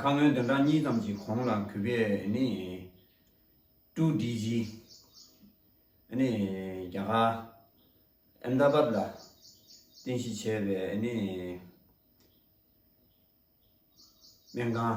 ཁ་སྔོན་དོན་གྲངས་གཉིས་ཙམ་གྱི་གོང་ལ་གུས་པས་ནི། ཀྲུའུ་ཀྲི་ཇི། ནི་རྒྱ་གར། Ahmedabad། ལ་རྟེན་གཞི་བྱས་པའི་ནི། སྨན་ཁང།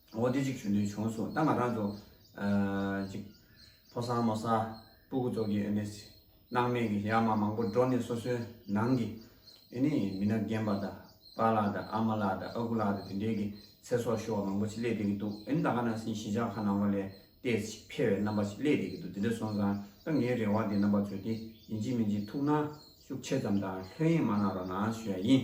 འོ་དེ་གཅིག་ཞུ་འདོད་བྱུང་གསུངས་ད་ང་རང་ཚོ་གཅིག་ཕོ་སང་མོ་སང་སྤུ་གུ་ཚོགས་ཀྱི་ཨེ་ནས་སྣང་མེད་ཀྱི་ཡ་མ་མང་པོ་འགྲོ་ནས་སོ་སོའི་ནང་གི་ཨེ་ནས་མི་ནག་རྒན་པ་དང་པ་ལགས་དང་ཨ་མ་ལགས་དང་ཨ་ཁུ་ལགས་དང་དེ་འདྲའི་གི་ཚེ་སྲོག་ཤོར་བ་མང་པོ་ཅིག་སླེད་བསྡད་ཀྱི་འདུག་ཨེ་ནས་ད་ག་ནང་སེང་གཞིས་ཆགས་ཁ་ནང་བ་ལས་བལྟས་ཤིག་ཕལ་བའི་རྣམ་པ་ཞིག་སླེད་བསྡད་ཀྱི་འདུག་དེ་འདྲ་སོང་ཙང་ད་ངའི་རེ་བ་དེ་རྣམ་པ་ཚོས་དེ་ཡིན་གཅིག་མིན་གཅིག་ཐུགས་སྣང་ཤུགས་ཆེ་ཙམ་དང་ལྷོད་གཡེང་མ་གནང་རོགས་གནང་ཞུ་ཡ་ཡིན།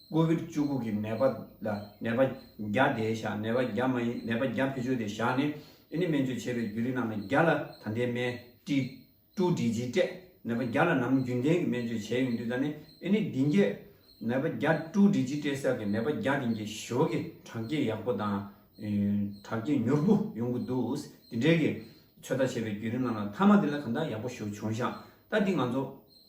ཀོ་བིར་བཅུ་དགུ་གི་ནད་པ་ལ་ནད་པ་བརྒྱ་བསྡད་བཞག་ནད་པ་བརྒྱ་མ་ཡིན་ནད་པ་བརྒྱ་བེད་སྤྱོད་དེ་བཞག་ནས་ཨི་ནི་སྨན་བཅོས་བྱས་པའི་རྒྱུ་རིགས་རྣམས་ལ་བརྒྱ་ལ་ད་ལྟའི་སྨན་བཀྲིས་ཀྲུའུ་འདྲི་རྗེས་སྤྲད་ནད་པ་བརྒྱ་ལ་ནམ་རྒྱུན་ལྡན་གྱི་སྨན་བཅོས་བྱས་ཡོང་དུས་ད་ནི་ཨི་ནི་འདི་འགྱེད་ནད་པ་བརྒྱ་ཀྲུའུ་འདྲི་རྗེས་སྤྲད་ས་གི་ནད་པ་བརྒྱ་དེ་འགྱེད་ཞོར་གྱི་དྲག་སྐྱེད་ཡག་པོ་དང་དྲག་སྐྱེད་མྱུར་པོ་ཡོང་གི་འདུག་དེ་འབྲེལ་གྱི་ཚོད་ལྟ་བྱས་པའི་རྒྱུ་རིགས་རྣམས་ལ་མཐའ་མ་དེ་ལ་གང་དག་ཡག་པོ་ཞུ་བྱུང་བཞག་ད་འདི་ང་ཚོ།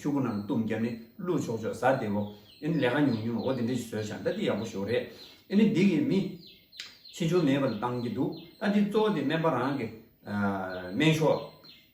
ཤོག་བུ་རྣམས་བཏུམ་བརྒྱབ་ནས་བླུག་ཆོག་ཆོག་ཟ་བདེ་བོ། ཨེ་ནི་ལས་ཀ་ཉུང་ཉུང་འོ་དེ་འདྲ་ཞིག་བཟོས་བཞག་ད་འདི་ཡག་པོ་ཞོག་རེད། ཨེ་ནི་འདི་གིས་མི། ཆེ་ཆུང་མེད་པ་ལ་བཏང་གི་འདུག་ད་འདི་གཙོ་བོ་དེ་སྨན་པ་རང་གི། སྨན་ཤོག།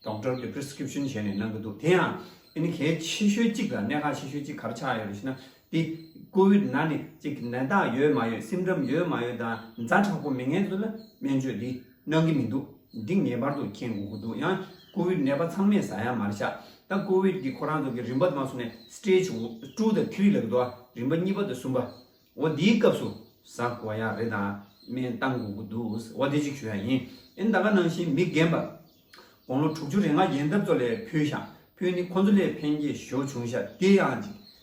Doctor། གི Prescription བྱས་ནས་གནང་གི་འདུག་དེ་ཡང། ཨེ་ནི་གལ་ཆེ་ཤོས་གཅིག་དང་གནད་འགག་ཆེ་ཤོས་གཅིག་གར་ཆགས་ཡོད་རེད་ཞེ་ན། འདི། Covid ན་ནི་གཅིག་ནད་རྟགས་ཡོད་མ་ཡོད Symptom ཡོད་མ་ཡོད་དང་མཛའ་དྲག་པོ་མི་ངན་ཚོ་ལ་སྨན་བཅོས་འདི། གནང་གི་མི་འདུག་འདི་ངེས་པར་དུ་མཁྱེན་དགོས་ཀྱི་འདུག་ཡང་ཀོ་བིད་ནད་པ་ཚང་མས་ཟ་ཡང་མ་རེད་ཤག་ད་ཀོ་བིད་ཀྱི་ཁོ་རང་ཚོ་གི་རིམ་པ་ནང་སོང་ནས Stage དྲུག་དང་བྷྲི་ལ་གི་འགྲོ་བ་རིམ་པ་གཉིས་པ་དང་གསུམ་པ་འོ་དེའི་སྐབས་སུ་ཟ་དགོས་བ་ཡང་རེད་དང་སྨན་བཏང་དགོས་ཀྱི་འདུག་འོ་དེ་གཅིག་ཞུ་ཡ་ཡིན་ཨེ་ད་ག་ནང་བཞིན་མི་རྒན་པ་དགོང་ལོ་དྲུག་ཅུ་རེ་ལྔ་ཡན་འཐབ་རྩོད་ལས་ཕུལ་ཤག་ཕུལ་ནི་ཁོང་ཚོ་ལས་ཕན་སྐྱེས་ཞོར་བྱུང་ཤག་དེ་ཡང་གཅིག་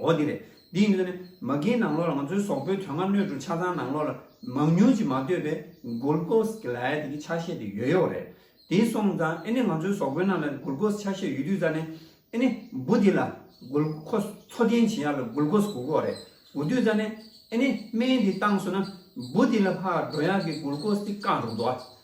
འོ་དེ་རེད། འདིས་ནོས་ནས། མ་རྒན་ནང་ལོགས་ལ་ང་ཚོའི་ཟོག་པོའི་དོན་ལྔ་སྣོད་དྲུག་ཆ་ཚང་ནང་ལོགས་ལ་མང་ཉུང་ཅིག་མ་ལྟོས་པའི་གུར་ཀོས་གི་ལའེ་ཏི་གི་ཆ་ཤས་དེ་ཡོད་ཡོད་རེད། དེ་སོང་ཙང་ཨེ་ནི་ང་ཚོའི་ཟོག་པོའི་རྣམས་ལ་གུར་ཀོས་ཆ་ཤས་ཡོད་དུས་ཙང་ནས་ཨེ་ནི་འབུ་དེ་ལ་གུར་ཀོས་འཚོ་རྟེན་བྱེད་ཡག་ལ་གུར་ཀོས་གུག་གོ་རེད་གུག་དུས་ཙང་ནས་ཨེ་ནི་སྨན་དེ་བཏང་སོང་ན་འབུ་དེ་ལ་ལྷག་འགྲོ་ཡག་གི་གུར་ཀོས་དེ་བཀག་འགྲོ་གདོ་ཨ་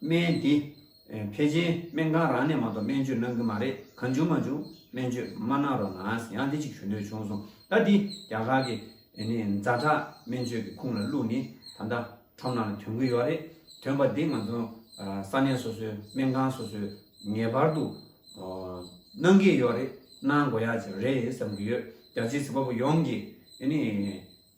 སྨན་དེ། ཕལ་ཆེར་སྨན་ཁང་རང་ནས་མ་གཏོགས་སྨན་བཅོས་གནང་གི་མ་རེད་གང་བྱུང་མ་བྱུང་སྨན་བཅོས་མ་གནང་རོགས་གནང་ཡང་དེ་གཅིག་ཞུ་འདོད་བྱུང་སོང་ད་འདི་རྒྱ་གར་གི་མཛའ་གྲགས་སྨན་བཅོས་ཀྱི་ཁུངས་ལ་བླུགས་ནི་ད་ལྟ་ཁྲོམ་ནང་ལ་དོན་གི་ཡོད་རེད་དོན་པ་འདི་ང་ཚོ་ས་གནས་སོ་སོའི་སྨན་ཁང་སོ་སོས་ངེས་པར་དུ་གནང་གི་ཡོད་རེད་གནང་དགོས་ཡག་ཅིག་རེད་བསམ་གི་ཡོད་རྒྱ་ཆེའི་བྱིས་པ་པོ་ཡོངས་ཀྱིས